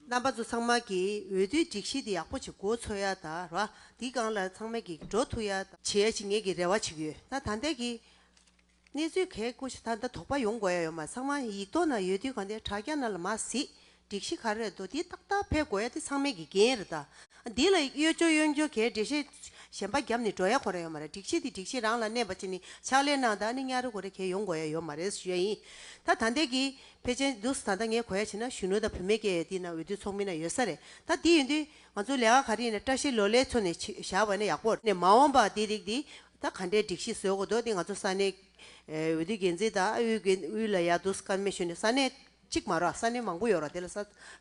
རྣམ་པ་ཚོ་ཚང་མ་གི་འོས་བསྡུའི་སྒྲིག་གཞི་དེ་ཡག་པོ་ཆེ་གོ་ཚོ་ཡ་ད་ར་འདི་སྒང་ལ་ཚང་མ་གི་འགྲོ་ཐུ་ཡ་ད། བྱེད་ཡ་བྱེད་ངེས་ཀྱི་རེ་བ་ཆིག་ཡོད་ད་ད་འདས་ཀྱི་གནས་ཚུལ་གས་སྐུ་ཤ་ད་ད་དོག་པ་ཡོང་གོ་ཡ་ཡོད་མ་ཚང་མ་ཡིག་ཐོག་ན་ཡོད་དུས་ག་འདས་དྲ་རྒྱ་ན་ལ་མ་གཟིགས་སྒྲིག་གཞི་ག་རེ་རེད་འདུག་འདི་ཏག་ཏག་ཕེབས་གོ་ཡ་འདི་ཚང་མའི་གི་འགན་རེད་ད། འདི་ལ་གཡོ་སྤྱོ་གཡོ་འགྱོ་གས་འདྲེ་ཤེས་གཞན་པ་རྒྱབ་ནི་འགྲོ་ཡ་གོ་རེ་ཡོད་མ་རེད་སྒྲིག་གཞི་འདི་སྒྲིག་གཞི་རང་ལ་གནས་པ་ཅིག་ནི་ཕྱག་ལས་གནང་ད་ནི་གཉའ་རེ་གོ་རེ་གས་ཡོང་གོ་ཡ་ཡོད་མ་རེད་ཞུ་ཡ་ཡིན་ད་ད་འདས་ཀྱི་ཕལ་ཆེན་འདུག་ད་ལྟ་ངའི་གོ་ཡ་བྱས་ན་གཞོན་ནུ་དང་བུད་མེད་སྐད་ཡིག་འདི་ན་འོས་བསྡུ་ཚོགས་མི་སྣ་ཡོད་ས་རེད་ད་འདི་ཡིན་དུས་ང་ཚོ་ལས་ཀ་ག་རིགས་ནས་བཀྲ་ཤིས་ལོ་ལེགས་ཚོ་ནས་བཞག་པ་ནས་ཡག་པོ། ནས་མ་འོངས་པ་འདི་རིགས་འདི་ད་ག་འདྲའི་སྒྲིག་གཞི་བཟོས་དགོས་འདུག་འདི་ང་ཚོ་ས་གནས་འོས་བསྡུ་འགན་འཛིན་དང་ཨུའི་འགན་ཨུའི་ལ་ཡག་འདུག་ཀརྨས་ཞུས་ནས་ས་གནས་གཅིག་མ་རོགས་ས་གནས་མང་པོ་ཡོད་རོགས་དེ་ལ་ས་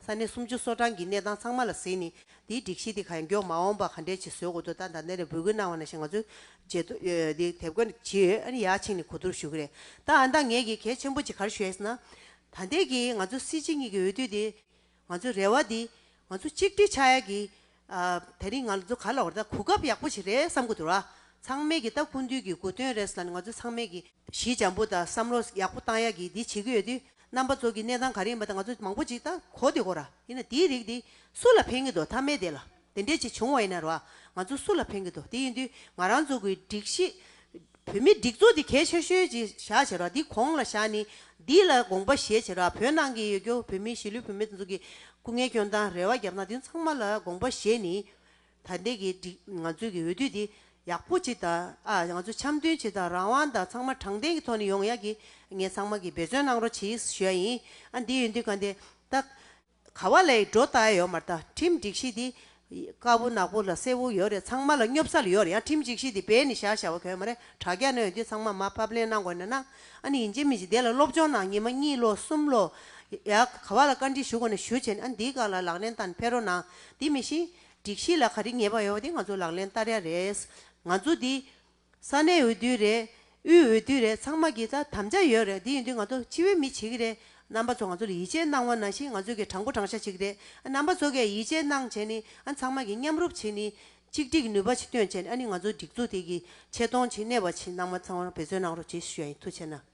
གནས་སུམ་ཅུ་སོ་གྲངས་ཀྱི་གནས་སྟངས་ཚང་མ་ལ་གཟིགས་ནས་དེའི་སྒྲིག་གཞི་དེ་ག་ཡང་མགྱོགས་མ་འོངས་པ་ག་འདྲའི་ཆེད་བཟོས་དགོས་དོ་ལྟ་འདང་ནས་འབོད་སྐུལ་གནང་བ་ན་ཞེ་ང་ཚོས་བརྗེད་དོ་དེ་དེབ་སྐོར་ནས་བྱས་ཡོད་ཨ་ནི་ཡག་ཕྱིན་ནས་གོ་བསྡུར་ཞུ་གི་རེད་ད་འདང་ངས་ཀྱི་གལ་ཆེན་པོ་ཅིག་གར་ཞུ་ཡས་ན་ད་ལྟའི་གི་ང་ཚོ་སྲིད་སྤྱི་གཉིས་ཀྱི་འོས་བསྡུ་དེ་ང་ཚོའི་རེ་བ་དེ་ང་ཚོ་གཅིག་སྒྲིལ་ཆགས་ཡས་ཀྱི་ད་རིང་ང་ཚོ་ག་ལ་བར་ད་གོ་སྐབས་ཡག་པོ་ཞིག་རེད་བསམ་གོ་འདུག་ར་ཚང་མས་ཀྱི་ད་ཀུན་འདུས་ཀྱི་གོ་དོན་རེད་ས་ལ་ནི་ང་ཚོ་ཚང་མས་ཀྱི། གཞི་འཇམ་པོ་དང་བསམ་བློ་ཡག་པོ་བཏང་ཡག་གི་འདི་བྱེད་ཀྱི་ཡོད་དུས་རྣམ་པ་ཚོ་གི་གནས་སྟངས་ག་རེ་ཡིན་པ་དེ་ང་ཚོ་མང་པོ་ཅིག་ད་གོ་དེ་གོ་ར་ཡིན་ན་དེའི་རིགས་དེ་སུ་ལ་ཕན་གྱི་འདུག་ཐ་མའི་དེ་ལ་དེ་འདྲས་ཅིག་བྱུང་བ་ཡིན་ན་ར་ང་ཚོ་སུ་ལ་ཕན་གྱི་འདུག་དེ་ཡིན་དུས་ང་རང་ཚོ་གི་སྒྲིག་གཞི་བོད་མི་སྒྲིག་འཛུགས་དེ་གལ་ཆེ་ཤོས་ཅིག་བཞག་བྱས་ར་འདི་གོང་ལ་བཞག་ནི་འདི་ལ་དགོངས་པ་བཞེས་བྱས་ར་བོད་ནང་གི་ཡོད་རྒྱུ་བོད་མི་གཞིས་ལུས་བུད་མེད་དེ་ཚོ་གི་སྐུ་ངལ་སྐྱོན་དང་རེ་བ་རྒྱབ་ན་དེ་ཚང་མ་ལ་དགོངས་པ་བཞེས་ནི། ད་ལྟའི་གི་ང་ཚོའི་གི་འོས་བསྡུ་འདི་ཡག་པོ་བྱེད་དང་ཨ་ང་ཚོ་འཆམ་མཐུན་བྱེད་དང་རང་དབང་དང་ཚང་མ་དྲང་བདེན་གི་ཐོག་ནས་ཡོང་ཡག་གི་ངས་ཚང་མ་གི་འབད་བརྩོན་གནང་རོགས་གྱིས་ཞུ་ཡ་ཡིན་ཨ་འདི་ཡོད་འདི་ག་འདི་ད་ག་བ་ལའི་འགྲོ་ད་ཡོད་མ་ད་ཁྲིམས་སྒྲིག་གཞི་འདི་དཀར་བོ་ནག་པོ་ལ་སེར་བོ་ཡོད་རེད་ཚང་མ་ལ་སྙོབ་ས་ལ་ཡོད་རེད་ཡང་ཁྲིམས་སྒྲིག་གཞི་འདི་བེད་ནས་བཞག་བཞག་བ་གོ་མ་རེད་དྲ་རྒྱ་ནས་འོས་བསྡུ་ཚང་མ་མ་ཕབ་ལེན་གནང་དགོས་ན་གནང་ཨ་ནི་ཡིན་གཅིག་མིན་གཅིག་དེ་ལ་སློབ་སྦྱོང་གནང་ཉིན་མ་གཉིས་ལོ་གསུམ་ལོ་ཡག་ག་བ་ལ་བཀའ་འདྲི་ཞུ་དགོས་ན་ཞུ་བྱས་ནས་ཨ་འདི་ག་ལ་ལག་ལེན་བསྟར་ནས་ཕེར་རོགས་གནང་འདི་མི་ཤེས། སྒྲིག་གཞི་ལ་ག་རེ་ཉེས་པ་ཡོད་པ་དེ་ང་ཚོ་ལག་ལེན་བསྟར་ཡ་རེད། ང་ཚོ་འདི། ས་གནས་འོས་བསྡུ་རེད། དབུས་འོས་བསྡུ་རེད་ཚང་མ་གི་ད་དམ་བཅའ་ཡོད་རེད་དེ་ཡིན་དུས་ང་ཚོ་སྤྱི་བའི་མི་བྱེད་ཀྱི་རེད། རྣམ་པ་ཚོ་ང་ཚོ་ལ་ཡིད་ཆེས་གནང་བ་ན་བཞིན་ང་ཚོ་གི་དྲང་པོ་དྲང་བཞག་བྱེད་ཀྱི་རེད། རྣམ་པ་ཚོ་གས་ཡིད་ཆེས་གནང་བྱས་ནི་ཨ་ཚང་མ་གི་མཉམ་རུབ་བྱེད་ནི། གཅིག་སྒྲིག་ནུས་པ་ཆེ་བཏོན་བྱས་ནི་ཨ་ནི་ང་ཚོ་སྒྲིག་འཛུགས་དེ་གི་ཆེ་མཐོང་བྱེད་ནས་བ་བྱེད་རྣམ་པ་ཚང་མ་ལ་འབད་བརྩོན་གནང་རོགས་བྱེད་ཞུ་ཡ་ཡིན་ཐུགས་ཆེ་ན།